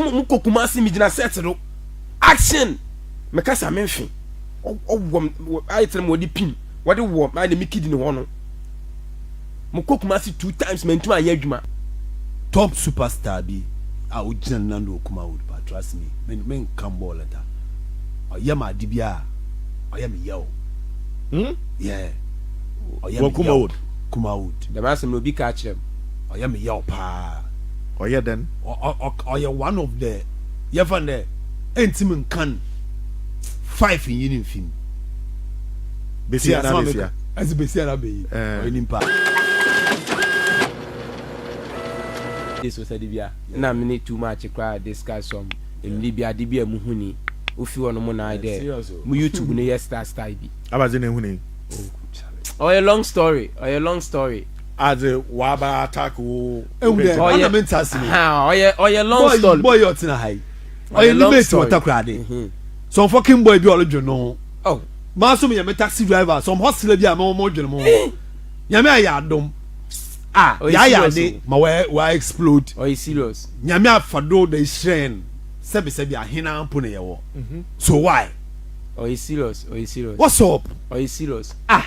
mo mo kɔ kumase mi gyina set do action me kasa me nfe ɔwɔ ayɛ tena mo wɔde pin wɔde wɔ ayɛ na me kidi ne hɔ no mo kɔ kumase two times ma ntoma ayɛ adwuma top superstar bi a ogyina no nan do wɔ kuma wood pa trust me me me nka mbɔ lɛta ɔyɛ ma ade bi a ɔyɛ me yɛ o hmm yeah ɔyɛ me kuma wood kuma wood dɛm asɛm na obi ka akyerɛ m ɔyɛ me yɛ o paa ɔyɛ dɛn ɔyɛ one of the yɛfa no dɛ ɛntimi nkan five nyi no mfim bɛsi asɛm a meka ɛsɛ bɛsi ara bɛyi ɔyɛ nipa so sɛ de bia na mene too much koraa discuss some mmiri bi ade bi a mu huni wofi hɔ no mo naa dɛ mo youtube no yɛ star star bi abadze na ehuni ɔyɛ long story ɔyɛ long story adze waba attack wo ehu dɛ ana me nta ase ɔyɛ ɔyɛ long story boy yɛ ɔtena ha yi ɔyɛ ne mate wɔ takoradi mhm. some fucking boy bi ɔlodwe no ho oh. maa so meyɛ me taxi driver some hustler bi a mɛwɔ mo dwene mo ho eh. nyame ayɛ adom a yɛayɛ ade ma wa explode nyame afa do da hyerɛn sɛbisɛbi ahena mpo na yɛwɔ mhm. so why ɔyɛ serious ɔyɛ serious what's up ɔyɛ serious ah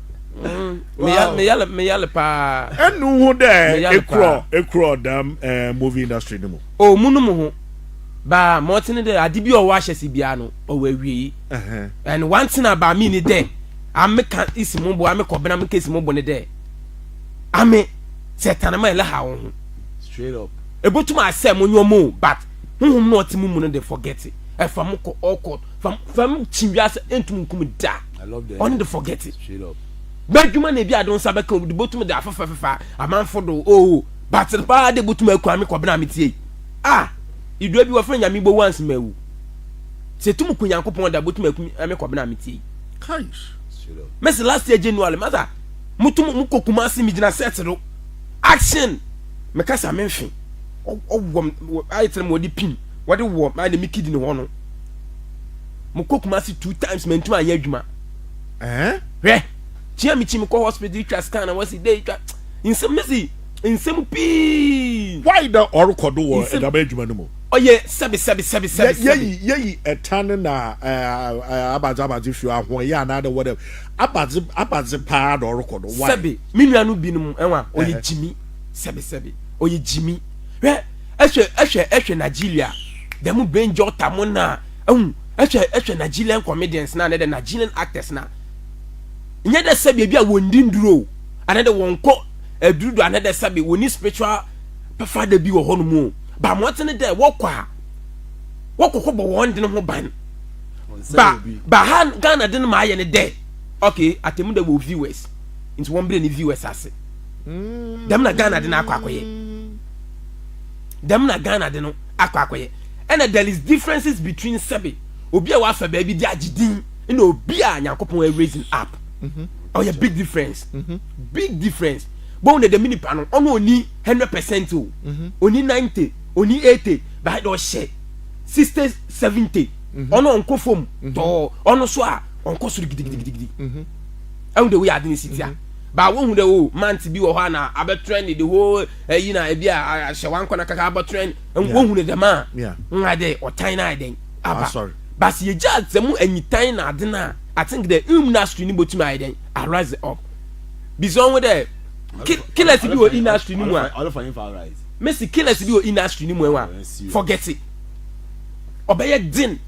mm, meyale meyale paa ɛnu ho dɛ ekurɔ ekurɔ dam eh, movie industry no mu o mu no mu ho baa ma ɔte ne dɛ ade bi a ɔwɔ ahyɛ se biara no ɔwɔ awie yi and one thing about me ni dɛ ame ka isi mo bo ame kɔbena me ka isi mo bo ne dɛ ame sɛ tanama ɛlɛ ha wo ho straight up ebutum asɛ mo nyɔ mo but huhum na ɔte mu mu no de forget ɛfa mo kɔ ɔkɔ fam fam kyi wiase ntum nkum da. ɔno de forget it bɛdwuma na ebi ade nsa bɛka obi de botum de afefɛfefa amanfo do oo oh, batere paa de botum akura me kɔbena me tie a idua bi wɔfrɛ nyame bowu anse ma awu sɛ tum ku nyankopɔn da botum aku me kɔbena me tie mɛsɛ last year january masa motum mokɔ kuma ase megyina sɛte do action mekasa menhwe ɔwɔ ayɛ kyerɛ ma wɔde pin wɔde wɔ ma ne mekidi ne hɔ no mo kɔ kumasi two times mɛ ntoma ayɛ adwuma ɛɛ hwɛ kyia mi kyi mi kɔ hospital twa scan na wɔsi de twa nsɛm ne si nsɛm pii. why na ɔrekɔ do wɔ ɛdaba adwuma no mu. ɔyɛ sɛbi sɛbi sɛbi sɛbi sɛbi. yɛyi yɛyi ɛtan ne na ɛɛ abadze abadze fi ahoɔyɛ anaa de wɔdɛ abadze abadze paa na ɔrekɔ do why. sɛbi mi nua no binom ɛwa ɔyɛ gyimi sɛbi sɛbi ɔyɛ gyimi hwɛ ɛhwɛ ɛhwɛ ɛhwɛ Nigeria dɛm bɛn jɔta mo na. Ehu, ehwɛ ehwɛ Nigerian comedians na ne de Nigerian actors na. Nyɛ dɛ sɛ baabi a wɔndi nduro o, ana de wɔnkɔ aduru do ana dɛ sɛ be wɔni spiritual pɛfada bi wɔ hɔ no mu o, ba mmɔdzen ne dɛ wɔkɔ a, wɔkɔkɔ bɔ wɔn de no ho ban. Ba ba ha Ghana de no ma ayɛ ne dɛ, okay, Atemmu da wɔ viewers, nti wɔmbrɛ ne viewers ase. Dɛm na Ghana de no akɔ akɔyɛ. dɛm na ghana de no akɔ akɔyɛ ɛna there is differences between sɛbe obi a wafa baabi de agye din ɛna obi a nyankopɔn a raising up mhm. ɔyɛ oh, big difference mhm. big difference bɔn na dɛm nipa no ɔno oni hundred percent o mhm. oni ninety oni eighty baa de ɔhyɛ sixty seventy ɔno ɔnkɔ fam tɔɔ ɔno so a ɔnkɔ soro gidigidigidi ɛhu de woyɛ ade ne si tia baa wohu de o oh, mante bi wɔ hɔ a na abɛtrɛ ne de hoo ɛyi na ebi a ahyɛ wɔn akɔnɔ kaka abɔtɔn na wɔn hunu dɛm a nwa dɛ ɔtan na ayɛ dɛn aba baasi yɛ gya adze mu anyitan na ade na i think dɛ um na asutwi ni bɔ tumi ayɛ dɛn arise up bisɛ ɔho dɛ killers bi wɔ ina asutwi ni mu a mesi killers bi wɔ ina asutwi ni mu ɛwa forget it ɔbɛyɛ den.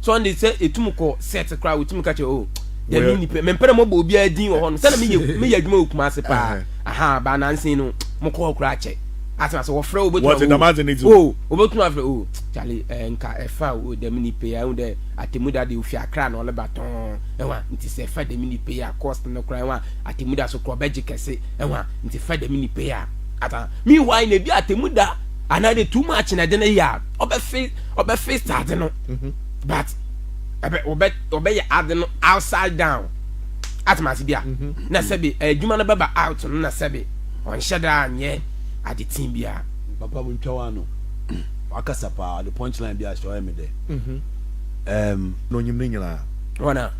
Sunday sɛ etum kɔ set koraa wotumi ka kyerɛ o oh, dɛ mi nni pɛ mempɛ dɛ mɔbɔ obiara din wɔ hɔ no sɛna meyɛ meyɛ adwuma wɔ Kumase paa uh-huh. aha baa nansen no mokɔ hɔ koraa kyɛ asɛm asɛ wɔfrɛ wo wobɛtumi o wobɛtumi afrɛ o oh, kyale eh, nka ɛfa o dɛ mi nni pɛ yɛ ahu dɛ atemuda deɛ ofi akra na ɔleba tɔn ɛwa nti sɛ ɛfa dɛ mi nni pɛ yɛ cost no koraa ɛwa atemuda so korɔ ɔbɛgye kɛse ɛwa nti fa dɛ mi nni pɛ yɛ ata meanwhile na ebi atemuda anaadɛ too much na ɛde no yɛ a ɔbɛfe ɔbɛfe stade no mhm. but ɛbɛ ɔbɛ ɔbɛyɛ ade no outside down atemase bi a mhm. na sɛbi adwuma no bɛba out no na sɛbi ɔnhyɛ daa nyɛ ade tii biara. papa mu ntwa wa no wakasa paa ɔde punchline bi ahyɛ ɔyɛ mi dɛ. Mhm. na onyim ne nyinaa. wɔna.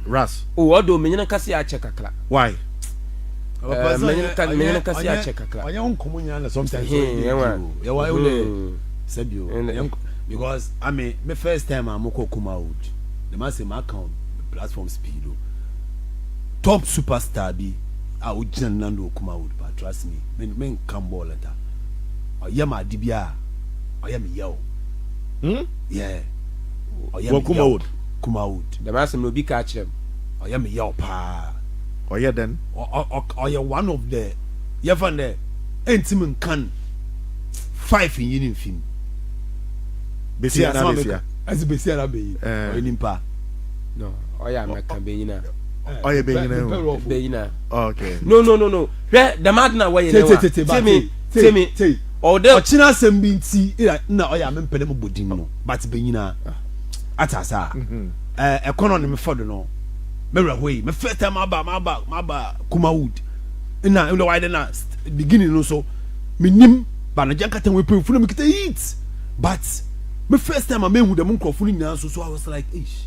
ras. o oh, ɔdɔ menyina kase akyɛ kakra. why. menyina kase akyɛ kakra. ɔnyɛ nkɔmɔ nyinaa na sometimes ɔyɛ ne nti o yɛ wa yɛ o dɛ sɛbi o. Because ame me first time a mokɔ Kumawood na mase maka wɔ platforms pii do top super star bi a ogyina ne nan do wɔ Kumawood paa trust me me menka mbɔɔ lɛta ɔyɛ ma ade biaa ɔyɛ me yaw hmm yeah ɔyɛ me yaw Kumawood dɛm asɛm no obi kaa kyerɛ me ɔyɛ me yaw paa ɔyɛ dɛn ɔyɛ one of the yɛfa no dɛ ɛntim nkan five nyi no mfi mu. besia na besia ɛsɛ besia na beyi eh. ɔyɛ nipa no ɔyɛ amɛka benyina ɔyɛ benyina o benyina okay no no no no hwɛ dɛm adi na wɔyɛ ne wa tèmi tèmi tèmi ɔdɛ ɔkyerɛ asɛm bi nti na ɔyɛ amɛ mpɛlɛ mu bɔ din no but benyina ata asa mhm. ɛɛ eh, ɛkɔnɔ ne mefɔ do no mɛwura hɔ yi mefɛ tɛ ma ba ma ba ma ba kuma wood ɛna ɛna wɔayɛ dɛ na beginning no so menim. But nagya nkata wɔ epemfo na mekita it but me first time a mehu dɛm nkorɔfo no nyinaa nso so I was like eish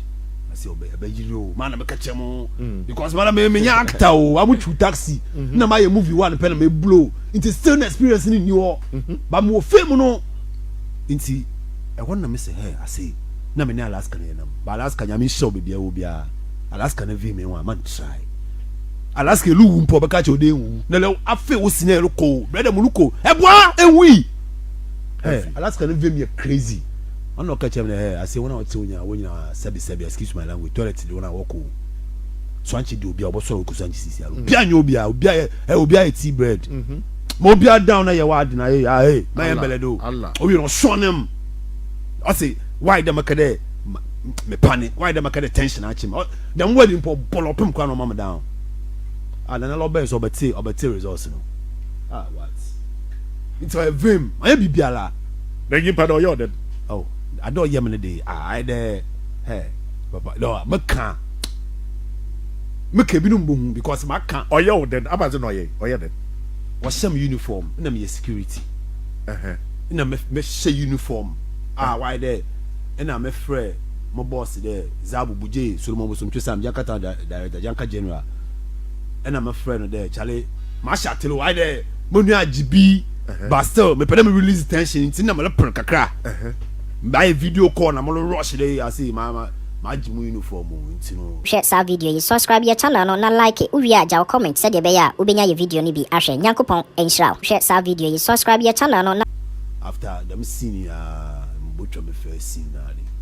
ase ɔbɛ ɛbɛyiri o maa na meka kyɛ mo mm. because maa na me menya actor o amu twi taxi mm-hmm. na mayɛ movie one pɛ na me blow nti still na experience ni ni hɔ mm-hmm. but mo wɔ fame no nti ɛhɔ na me sɛ hɛ ase na me ne Alaska na yɛ nam but Alaska nyame nhyɛ o beebi a wɔ biara Alaska na vi me ho a man try. Alaska elu wu mpo a ɔbɛka akyerɛ wo dɛ ennwuwu. Na lɛw afei wo senior rokɔ o, brɛda mu rokɔ o, ɛboa ara, ennwui! Hɛ, Alaska no vem yɛ crazy. Ɔno na ɔka kyerɛɛ me dɛ, hɛ, ase hɔn a wɔtse wo nyina, wo nyina sɛbe sɛbe, excuse my language, toilet do na wɔkɔ o. Suankye de obiara ɔbɔsoɛr ɔkɔ suankye sisiara, obiara nnyɛ obiara, obiara yɛ, hɛ, obiara yɛ tea bread. Ma obiara down na yɛ w'ade na hɛ, ah hɛ, ma yɛ mbɛlɛ do. Owie no ɔsɔn no mu, ɔse, why dɛ maka dɛ ma, me pane, why dɛ maka dɛ tension akye me, ɔ. Dɛm word yi mpo ɔbɔ no ɔpem kor ana ɔma me down ah Nana lɔ ɔbɛyɛ sɛ ɔbɛtse ɔbɛtse results no ah what Ntsi ɔyɛ vem ɔnnyɛ biribiara na nyimpa dɛ ɔyɛ ɔdɛn oh Ade a ɔyɛ me no de ah ayɛ dɛ hɛ papa dɛ ɔa mɛka a meka binom bohu because maka Ɔyɛ wo dɛn ama dze na ɔyɛ ɔyɛ dɛn Wɔhyɛ me uniform nna meyɛ security ɛhɛ Nna mɛ mɛhyɛ uniform ah ɔayɛ dɛ nna mɛfrɛ mo boss dɛ. dza bubujee Solomon bosomtwe Sam Jankata da Director Janka General na me frɛ no dɛ Charlie mahyɛ atel o ayɛ dɛ monua agye bi but still mepɛ dɛ me release tension ntsi na mereper kakra mayɛ video call na moro rush dɛ eii ase ma ma magye mu uniform o ntsi no. Hwɛ saa video yi, subscribe yɛ channel no na like, wo wie a gyaw comment sɛdeɛ ɛbɛyɛ a wo bɛnya yɛ video no bi ahwɛ. Nyankopɔn nhyira wo. Hwɛ saa video yi, subscribe yɛ channel no na. After dɛm scene yi aa mobotwa me first scene no ade.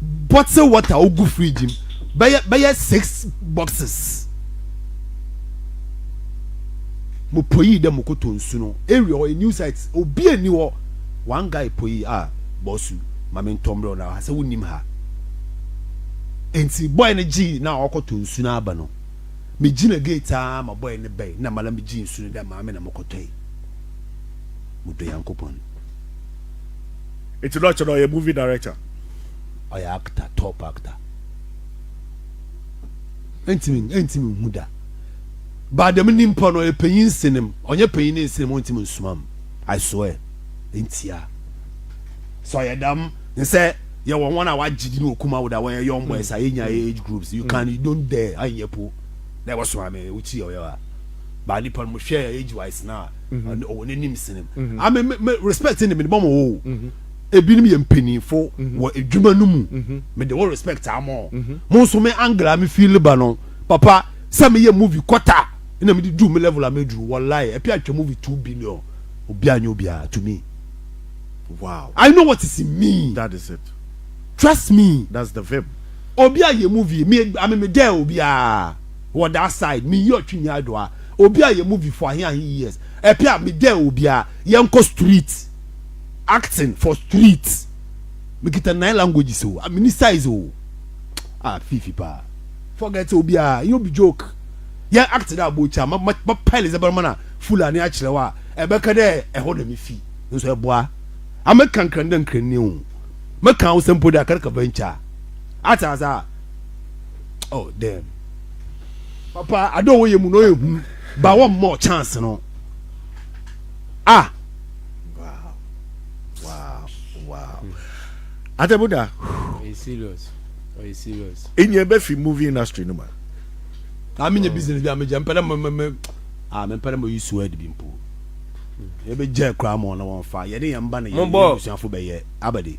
bottle water ogu fridge mu bɛyɛ bɛyɛ six boxes mo poyi dɛ mo koto nsu no area hɔ new site obi ani hɔ one guy poyi a ah, bɔsu maame ntɔmbrɛ na ha sɛ wonim ha nti boy no gye na ɔkɔto nsu no aba no me gyina gate a ma boy no bɛn na mala me gye nsu no dɛ maame na mo kɔtɔe mo do yankopɔn Eti na ɔkyɛ na ɔyɛ movie director. Ɔyɛ actor top actor. Ɛntimi ɛntimi nhu da. Ba dɛm ni mpo no ɔyɛ panyin nsenem ɔnyɛ panyin ne nsenem ɔntimi nsumam I swear ntia. Sɛ ɔyɛ dɛm nsɛ yɛwɔ wɔn a wagye din wɔ Kumawo da wɔyɛ young boys a yɛnya yɛ age groups you can you don't dare anyɛ po na ɛwɔ so ame wokyi ɔyɛ wa ba nipa no mo hwɛ age wise na. ɔne ɔwɔ n'anim sene m a me me respect ne mede bɔmɔ wo ebinom yɛ mpanyinfo wɔ adwuma no mu mede wo respect ama ɔ mo nso me angle a me feel ba no papa sɛ meyɛ movie kɔta na mede duru me level a meduru wallahi apia atwa movie two billion obi anyɛ obiara to me wow I know what is in me that is it trust me that's the vibe obi ayɛ movie me ame me dɛ obiara wɔ that side me yi ɔtwi nyaa do a obi a yɛ movie for ahe ahe years ɛpɛ a me dare obi a yɛn kɔ street acting for street me kita nine languages o a me ni size o a fifi pa forget obi a yɛ obi joke yɛn act dɛ abɔ kya ma ma ma pile zɛ bɛrɛ ma na fulani akyerɛ wa ɛbɛka dɛ ɛhɔ na me fi nso ɛboa ame kankran dɛ nkran ni o mɛka awosɛ mpo dɛ akaraka venture ata asa. oh damn papa ade ɔwɔ yɛ mu na ɔyɛ hu ba wɔn mɔ chance no ah wow wow wow atɛbuda ɔyɛ serious ɔyɛ serious enyɛ bɛ fi movie industry no ma na mi nyɛ business bi a mi jɛ mpɛrɛ mɛ mɛ mɛ ah mɛ mpɛrɛ mɛ yi suwa ɛdi bi mpo ebe jɛ kura mɔ na wɔn fa yɛ ne yɛn ba na yɛ yɛ busuafo bɛ yɛ abadi.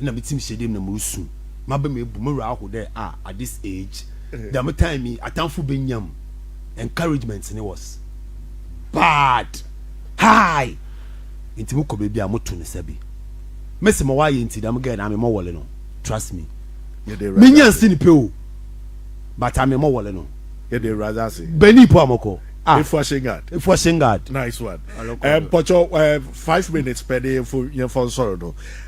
nna me tsir hyɛ dɛ mu na murusu, m'abam ebu, mo werɛ ahow dɛ ah at this age, dɛm time yi atamfo benya mu encouragement no was bad, high, ntsi mokɔ beebi a moto nsa bi. Mese ma ɔayɛ ntsi dɛm girl no ame mɔwɔle no, trust me, minnya nsen pɛ o, but ame mɔwɔle no. Yɛda Ewuradze ase. Bani po a mɔkɔ. Ah. Efua Shingard. Efua Shingard. Nice one. Mpɔkyɛw, five minutes pɛ de yɛmfo nsɔr do.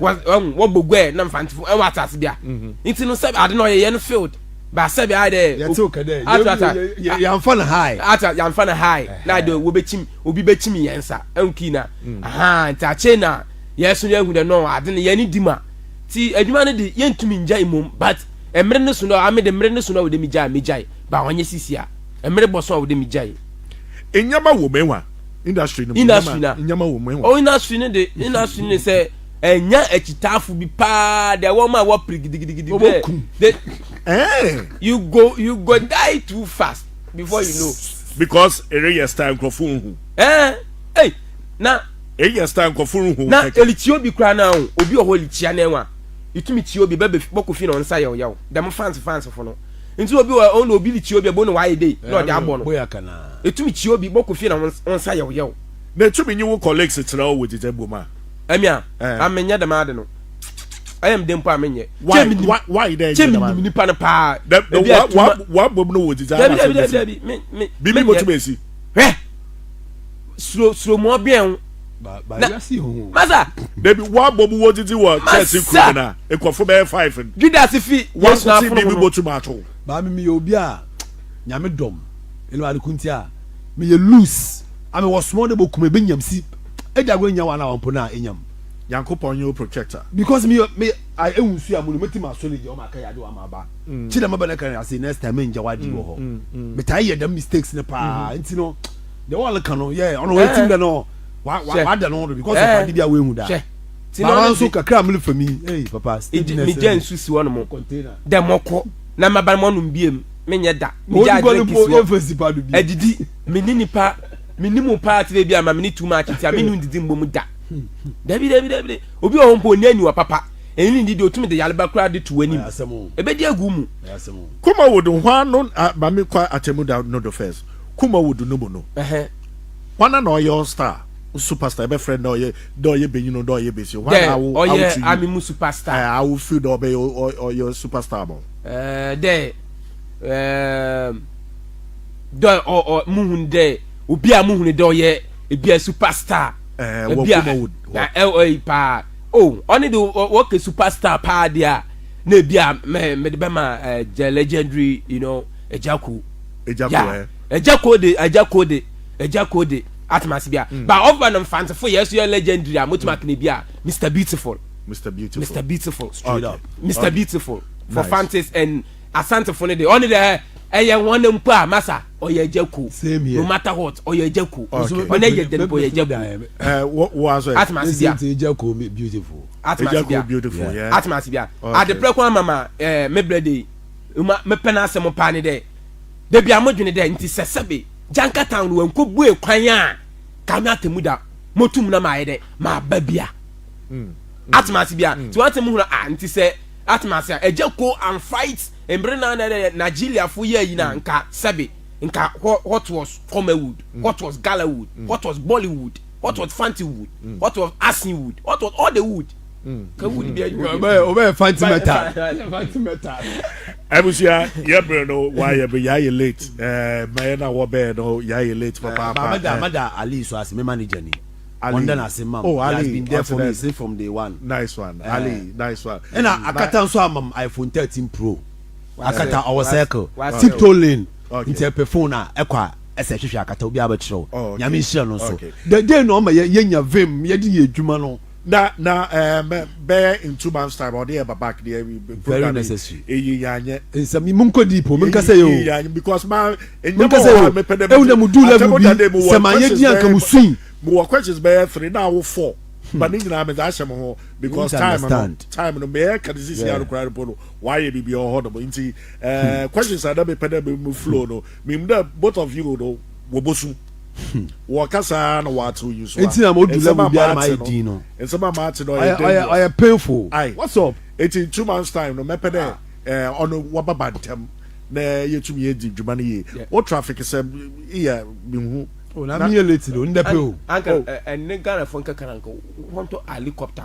wɔbɔ guɛ na mfantefo ɛwɔ asase bia mhm. nti no sɛ ade na ɔyɛ yɛn field ba sɛ bia dɛ atata yɛnfa no high ata yɛnfa no high na de wɔbɛkyim obi bɛkyim yɛn nsa ɛnki na mm. aha nti akyɛ na yɛso yɛhu dɛ no ade no yɛne di ma ti adwuma no de yɛntumi ngya mmom but mmere no so no ame de mmere no so no wɔde megyae megyae ba ɔnyɛ sisi a mmere bɔ so a wɔde megyae ɛnyaba wɔ mɛwa industry no mu industry na nyama wɔ mu ɛwɔ oh, industry no de industry no sɛ ɛnya akyitaafo bi paa deɛ wɔn a wɔpere gidigidigidi bɛɛ de eh. you go you go die too fast before you know. because ere yɛ style nkurɔfo nhu. ɛɛ ɛy na. ere yɛ style nkurɔfo nhu kɛkɛ. na elikyia obi kura na o obi wɔ hɔ elikyia na ɛwa etumi kyia obi bɛbɛ bɔkɔ fi na ɔnsa yɛw yɛw dɛm fans fans fo no. nti obi wɔ ɔno obi de kyia obi ɛbɔ no wayɛ dei na ɔde abɔ no ɛtumi kyia obi bɔkɔ fie na wo nsa yɛw yɛw na ɛtumi nye wo colleagues kyerɛ wo wɔ gyegya bom a ɛmi a na menyɛ dɛm ade no ɛyɛ mede mpo a menyɛ kyɛ menim nipa no paa wabom no wɔ gyegya dabi dabi dabi bibi bɔtumi asi hwɛ suro suro mu ɔbɛn masa dabi wabɔ mu wɔ didi wɔ chelsea kuro mu na nkɔfo bɛyɛ five no judas fi wɔn sena apono mu no yɛn bɔtu maa to baami mi yɛ obi a nyame dɔm ɛnna wàá kunti a mi yɛ loose ami wɔ sumɔ de bɔ kuma ebe nyam si ɛdi ago enya wàhálà wɔn po na enyam. nyankopɔn nye o protector. because mi mi a ewu nsu amu no mi ti ma so ne gye ɔma aka yɛ adi wa ma ba kyi dɛm ɛbɛ ne kan yɛ ase next time mi n gya wa di wɔ hɔ mi ta yɛ dɛm mistakes ne paa nti no. de wɔn leka no yɛ ɔno wɔn etim dɛ no wa wa wa dɛ no do because of adi bi a wɔn ehu da ti na ɔno nso kakra amuli fami ee papa stage na ɛsɛ mi gya nsu si wɔn mo dɛ mɔkɔ na ma ba mɔnum biem mi nyɛ da mi gya adrink si wɔ ɛdidi mi ni nipa mi ni mu paa ti ebi ama mi ni tu ma akyi ti a mi ni didi mbɔ mu da dabi dabi dabi obi wɔ hɔ mpo onye aniwa papa ɛni ni didi otumi de yaleba kura de tu anim ebe di egu mu. kɔma wo do hwan no ba mi kɔ atɛmu da no do first. Kumawudu no mu no hwana na ɔyɛ all star superstar ɛbɛ frɛ dɛ ɔyɛ dɛ ɔyɛ benyini dɛ ɔyɛ besi hwana na awo awo tu yi ami mu superstar ɛɛ awo feel dɛ ɔbɛ ɔyɛ superstar mo. ɛɛ dɛ ɛɛ dɛ ɔ ɔ mu hun dɛ obi a mu hun dɛ ɔyɛ ebi a superstar ɛɛ wɔ Kumawudu na ɛɛ e, paa o oh, ɔne de wɔkɛ superstar paa de a na ebi a mɛ mɛ de bɛ ma ɛɛ eh, the legendary you know ɛgya ko. Agya Ko ɛ. Agya Ko de, Agya Ko de, Agya Ko de, atem ase bi a. Mm. Ba ɔfba no mfantsefo yɛ so yɛ legendary a motuma mm. kene bi a Mr Beautiful. Mr Beautiful. Mr Beautiful. Straight okay. up. Mr okay. Beautiful. For nice. fantes and asantefo no de ɔne dɛ ɛyɛ wɔn ne mpo a masa ɔyɛ agya ko no matter what ɔyɛ agya ko ɔne yɛ dɛn mpo ɔyɛ agya ko atemase bia atemase bia atemase bia adeprɛ kwan mama ɛɛ mebrɛ de Uma mepɛ n'asɛm paa ne dɛ da bi a modwene dɛ nti sɛ sɛbe Janka town no wannkɔbue kwan a ka me atemmu da motum na mayɛ dɛ maba bi a. Mm. Mm. Atema ase bi a. Mm. Nti wante mo hunu a nti sɛ atema ase a ɛgya ko and fight mbere na na dɛ Nigeriafo yɛ ayi na mm. nka sɛbe nka what was Comerwood, mm. what was Galawood, mm. what was Bollywood, what mm. was Fantiwood, mm. what was Asinwood, what was all the wood. abusua yɛ bere no wayɛ be yɛayɛ late mɛyɛ na wɔbɛɛ no yɛayɛ late papaapamadaali so ase me manager ni ɔndɛ na ase mam oh, ali, has been there for me say from day one nice one uh, ali nice one ɛna akata nso amam iphone 13 pro akata ɔwɔ circle tiptoe lane nti ɛpɛ phone a ɛkɔ a ɛsɛ hwehwɛ akata obi abɛkyerɛw oh, nyame nhyira no nso the day na ɔma yɛnya vim yɛde yɛ adwuma no na na ɛɛ eh, bɛyɛ in two months time ɔde yɛ babak deɛ eh, program necessary eyi yanyɛ nsɛm mu nkɔ deep o mu nkasa yɛ o yanyɛ because ma enyɛma wɔ hɔ a mepɛ dɛ ɛwuna mu du level bi sɛ ma yɛ di anka mu sui mu wɔ questions bɛyɛ three na awo four hmm. ba ne nyinaa mɛ dza ahyɛ mo ho because time no time no mɛ ɛka ne sisi anokora no po no wayɛ bibi ɔhɔ no mo nti ɛɛ eh, hmm. questions a na mepɛ dɛ mo flow no mɛ mu dɛ both of you no. Wɔbɔsu. Wɔka saa na wɔate onyinsoa. Eti na mo du level biara ma ayɛ din no. Nsɛm a maate no ɔyɛ dangerous. Ɔyɛ painful. What's up? Eti in two months time no mɛpɛ dɛ ɛɛ ɔno wɔba ba ntɛm na yɛtumi adi dwuma no yie. Wo traffic sɛm yɛ me hu. Oh na me yɛ late de o, ndɛ pɛ o. Anka ɛnne Ghana fo nkɛka na anka wɔntɔ alikɔpta.